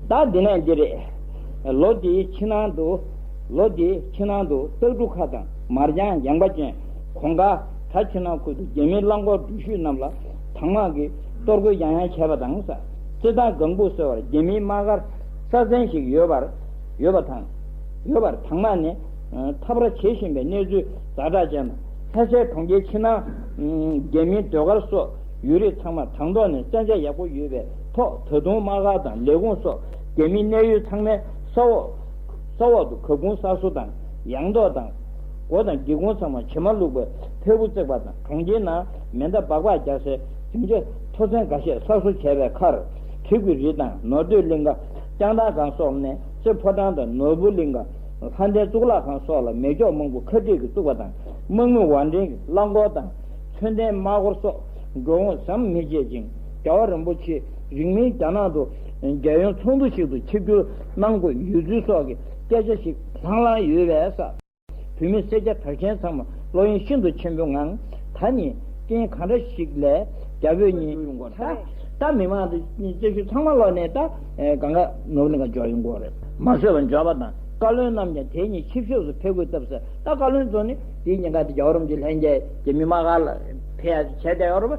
ད་འདི་ན་འདི་རེད། ལོ་དེའི་ཕྱི་ནང་དུ། ལོ་དེའི་ཕྱི་ནང་དུ་སྟག་གྲུ་ཁ་དང་མར་ཅང་ཡངས་པ་ཅན། གོང་དཀར་དྲ་ཆུ་ནང་ཁུལ་དུ་རྒྱ་མིའི་རླངས་འཁོར་འགྲུལ་བཞུད་རྣམས་ལ་དྭངས་དམག་གིས་གཏོར་རྒོལ་ཡང་ཡང་བྱས་པ་དང། རྩེད་ཐང་སྒང་བུ་སོལ་བར་རྒྱ་མིའི་དམག་སྒར་སྲ་བརྩན་ཞིག་ཡོད་པར་ཡོད་པ་དང། ཡོད་པར་དྭངས་དམག་ནས་འཐབ་ར་བྱེད་བཞིན་པའི་གནས་ཚུལ་རྫ་བྲག་ཅན་དང་ལྷ་སའི་གྲོང་ཁྱེར་ཕྱི་ནང། རྒྱ་མིའི་ཟློས་གར་སོགས་ཡུལ་རིས་ཚང་མར་དྭངས་ཐོག་ནས་བཙན་ཆ་ཡག་པོ་ཡོད་པའི། ཐོག་ད་དུང་དམག་སྒར་དང་ལས་ཁུངས་སོགས་རྒྱ་མིའི་གནས་ཡུལ་ཚང་མའི་ས་འོག་ས་འོག་ཏུ་གབ་ཁུང་གསར་བཟོ་དང་ཡང་ཐོག་དང། སྒོ་དང་སྒེའུ་ཁུང་ཚང་མར་བྱེ་མ་བླུགས་པའི་ཕེབས་བུ་བརྩེགས་པ་དང་གྲོང་ཁྱེར་ནང་མེ་མདའ་སྦག་སྦག་རྒྱག་སའི་རྒྱུན་ཆ་མཐོ་ཚན་འགའ་ཤས་གསར་བཟོ་བྱས་པའི་ཁར། དྲི་གུ་རི་དང་ནོར་སྟོད་གླིང་ག་སྐྱང་ཐང་སྒང་སོགས་གནས་རྩེ་ཕོ་བྲང་དང་ནོར་བུ་གླིང་ག་ལྷ་ལྡན་གཙུག་ལག་ཁང་སོགས་ལ་མེ་སྒྱོགས་མང་པོ་ཁ་སྦྲིད་ཀྱིས་བཙུགས་པ་དང་དམག་མི་བང་འགྲེང་གིས་རླངས་འཁོར་དང་མཚོན་ལྡན་དམག་སྒོར་སོགས་འགྲོ་འོང་ཟམ་མི་ཆད་ཅིང། རྒྱལ་བ་རིན་པོ་ཆེས་རིང་མིན་རྒྱ་ནག་ཏུ་རྒྱལ་ཡོངས་ཚོགས་འདུ་ཞིག་ཏུ་ཆིབས་བསྒྱུར་གནང་དགོས་ཡོད་ཚུལ་སོགས་ཀྱི་སྐད་ཆ་ཞིག་ལྷང་ལྷང་ཡོད་པས་ས་བོད་མི་སེར་སྐྱ་གྲགས་ཅན་ཚང་མ་བློ་གཡེང་ཤིན་ཏུ་ཆེན་པོའི་ངང་ད་ནི་རྐྱེན་གང་འདྲ་ཞིག་ལས་རྒྱ་བོད་གཉིས་ཀྱི་མགོ་ཚ་རེད་ད་མི་མང་སྤྱི་འཐུས་ཚང་མ་བློ་ནས་ད་ག་འགའ་ནོར་ནི་ག་འཇོག་ཡོད་མགོ་རེད། མ་བཟོད་པ་འཇོག་པ་དང་བཀའ་བློན་རྣམས་ཀྱང་དེ་གཉིས་ཆིབས་ཤོག་སུ་ཕེབས་དགོས་སྟབས་ཟེར་ད་བཀའ་བློན་ཚོ་ནི་དེ་གཉིས་ག་དེ་རྒྱ་བོད་རོམ་གྱི་ལྷན་རྒྱལ་གྱི་མི་མང་ག་ལ་ཕེབས་ཡ་བྱས་ཏེ་ཡོང་རོགས།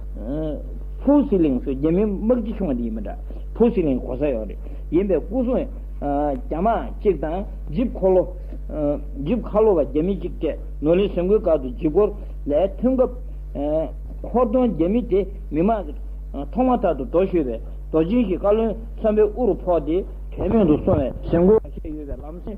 ཕུའུ་སི་ལིང་སུ་རྒྱ་མི་དམག་སྤྱི་ཆུང་བ་དེ་ཡིན་པ་འདྲ། ཕུའུ་སི་ལིང་གོ་ས་ཡོད་རེད། ཡིན་པའི་སྐུ་སྲུང་རྒྱ་དམག་གཅིག་དང་ཇིབ་ཁོ་ལོ། Jeep Kalo། བ་རྒྱ་མི་གཅིག་བཅས་ནོར་ལི་ཟིང་གོའི་སྒར་དུ་ཇིབ་སྐོར་ལས་ཐོན་སྐབས། ཧོར་གདོང་རྒྱ་མི་དེ་མི་མང་གི་ཐོག་མ་ཐག་ཏུ་འགྲོ་ཤོད་པའི་རྡོ་རྗེན་གྱི་བཀའ་བློན་གསར་པའི་དབུ་རུ་ཕོག་སྟེ། དྲན་མེད་དུ་སོང་བའི་ཟིང་གོ་བ་ཞིག་ཡོད་པའི་ལམ་སེང།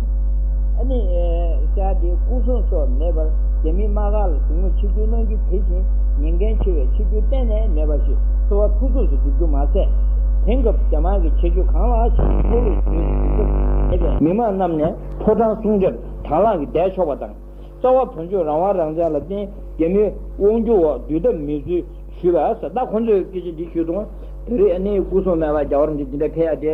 ནི། ཤ་དེའི་སྐུ་གསུང་སོགས་མེད་པར་རྒྱ་མི་དམག་ཁ་ལ་ཞིག་མོ་ཆིབས་བསྒྱུར་གནང་རྒྱུ་དེ་བཞིན་ཉེན་འགན་ཆེ་བས་ཆིབས་བསྒྱུར་གཏན་ནས་མེད་པ་ཞིག་གསོ་བ་ཕུན་ཚོགས་སུ་བསྒྲུབ་རྒྱུ་མ་ཟད། དེང་སྐབས་རྒྱ་དམག་གི་བྱེད་སྤྱོད་གང་ལ་ཞིག་གི་ཁོ་བོས་བརྗོད་ནས་བསྒྲུབ་ཐབས་མེད་པས། མི་མང་རྣམས་ནས་ཕོ་བྲང་སྲུང་སྐྱོབ་དྭང་བླངས་ཀྱིས་བསྡད་ཆོག་པ་དང། རྩ་བ་བོན་ཆོས་རང་དབང་རང་བཙན་ལ་བརྟེན་རྒྱ་མིའི་དབང་བསྒྱུར་འོག་འདུས་ཐབས་མེད་ཚུལ་ཞུས་པ། ད་ཁོ་ཚོས་སྐད་ཆ་འདི་ཞུས་དང། བོད་རིགས་ནི་སྐུ་གསུང་སྨད་པ་རྒྱ་གར་འདི་འདི་འདྲ་འཕེལ་ཡག་དེ།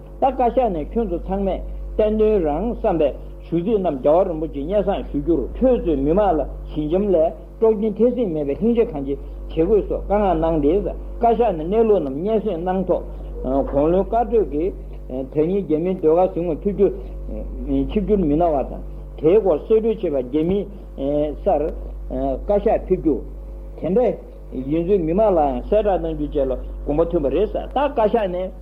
ད་བཀའ་ཤག་ནས་ཁྱོད་ཚོ་ཚང་མས་བསྟན་དོན་རང་བསམ་པའི་ཞུ་ཚིག་རྣམས་རྒྱ་བ་རིན་པོ་ཆེ་སྙན་བཟང་ཞུ་རྒྱུར་ཁྱོད་ཚོས་མི་མང་ལ་ཞི་འཇམ་ལས་དཀྲོག་རྒྱུན་འཐེན་སྲིད་མེད་པའི་ལྷིང་འཇགས་གང་ཅི་བྱེད་དགོས་སོགས་བཀའ་མངགས་གནང་དེས་བཀའ་ཤག་ནས་གནས་ལུགས་རྣམས་སྙན་གསེང་གནང་ཐོག་གོང་ལོའི་བཀའ་གྲོས་ཀྱི་དེ་ཉིན་རྒྱ་མིའི་ཟློས་གར་ཟིང་ངོ་ཐུག་རྒྱུ། ཆིབས་བསྒྱུར་མི་གནང་བ་དང་དེའི་སྐོར་གསེད་བཀྲོལ་བྱེད་པ་རྒྱ་མིའི་སར་བཀའ་ཤག་ཕེབས་རྒྱུ། དེ་འདྲ་ཡིན་ཚུལ་མི་མང་ལའང་གསལ་བསྒྲགས་གནང་རྒྱུ་བཅས་ལ་དགོངས་པ་མཐུན་པ་རེད་བསམ། ད་བཀའ་ཤག་ནས།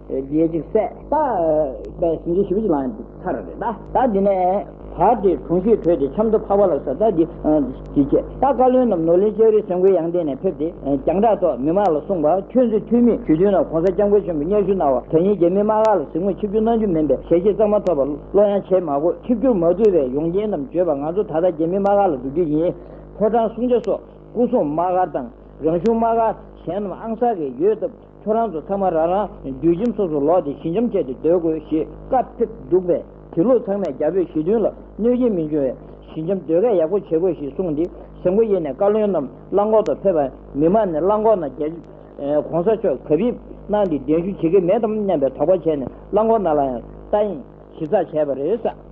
རྒྱལ་གཅིག་སྲས། ད་པའི་ཟིན་བྲིས་ཞིབ་ཅིག་ལངས་ཡོད་ཚར་རེད་ད། ད་འདི་ནས། བར་དེ་གྲོང་ཤུད་བྲོས་ཏེ་ཆབ་མདོ་ཕག་པ་ལ་སོགས་ད་འདི། དེ་རྗེས་ད་བཀའ་བློན་རྣམས་ནོར་གླིང་ལྕགས་རི་སེང་གོའི་ཡང་སྟེང་ནས་ཕེབས་ཏེ་རྒྱང་གྲགས་ཐོག་མི་མང་ལ་གསུངས་པ་ཁྱོད་ཚོས་འཐུས་མི་ཞུ་དུས་ན་གོང་ས་སྐྱབས་མགོན་ཆེན་པོས་སྙན་ཞུ་གནང་བ་དོན་སྙིང་རྗེ་མི་དམངས་ལག་ལ་གཟིགས་མོ་ཆིབས་བསྒྱུར་གནང་རྒྱུ་མིན་པས་ཞལ་ཆེ་གཙང་མ་ཐོབ་པ་བློ་ཡང་བྱེད་མ་དགོས་ཆིབས་བསྒྱུར་མ་དགོས་པའི་ཡོང་རྐྱེན་རྣམས་བརྗོད་པ་ང་ཚོ་ད་ལྟ་རྗེ་མི་དམངས་ལག་ལ་འདུག་རྒྱུ་ཡིན། ཕོ་བྲང་བསྲུང་བྱ་སོགས་སྐུ་སྲུང་དམག་སྒར་དང་རང་གཞུང་དམག་སྒར་གཞན་རྣམས་ཨང་གསར་རེ་ཡོད་སྟབས། ཁྱོད་རང་ཚོ་ཚང་མ་རང་རང་རྒྱུད་ཁྱིམ་སོ་སོར་ལོག་སྟེ་ཞི་འཇམ་བྱས་ཏེ་སྡོད་དགོས་ཞེས་བཀའ་ཕེབས་འདུག་པས་དེ་ལུགས་ཚང་མས་རྒྱ་བོད་ཞི་མཐུན་ལ་གནོད་སྐྱེལ་མི་འབྱུང་བའི་ཞི་འཇམ་སྡོད་སྐལ་ཡག་པོ་བྱེད་དགོས་ཞེས་གསུངས་ཏེ་ཟེ་མགོ་དབྱེ་ནས་བཀའ་བློན་རྣམས་རླངས་འཁོར་དུ་ཕེབས་པ་མི་མང་ནས་རླངས་འཁོར་ནང་རྒྱལ་གོང་ས་མཆོག་གབ་ཡིབ་གནང་སྟེ་གདན་ཞུ་བྱེད་ཀྱི་མེད་དམ་སྙམ་པའི་དོགས་པ་བྱས་ནས་རླངས་འཁོར་ནང་ལ་ཡང་ལྟ་ཡིན་ཞིབ་ཚགས་བྱས་པ་རེད།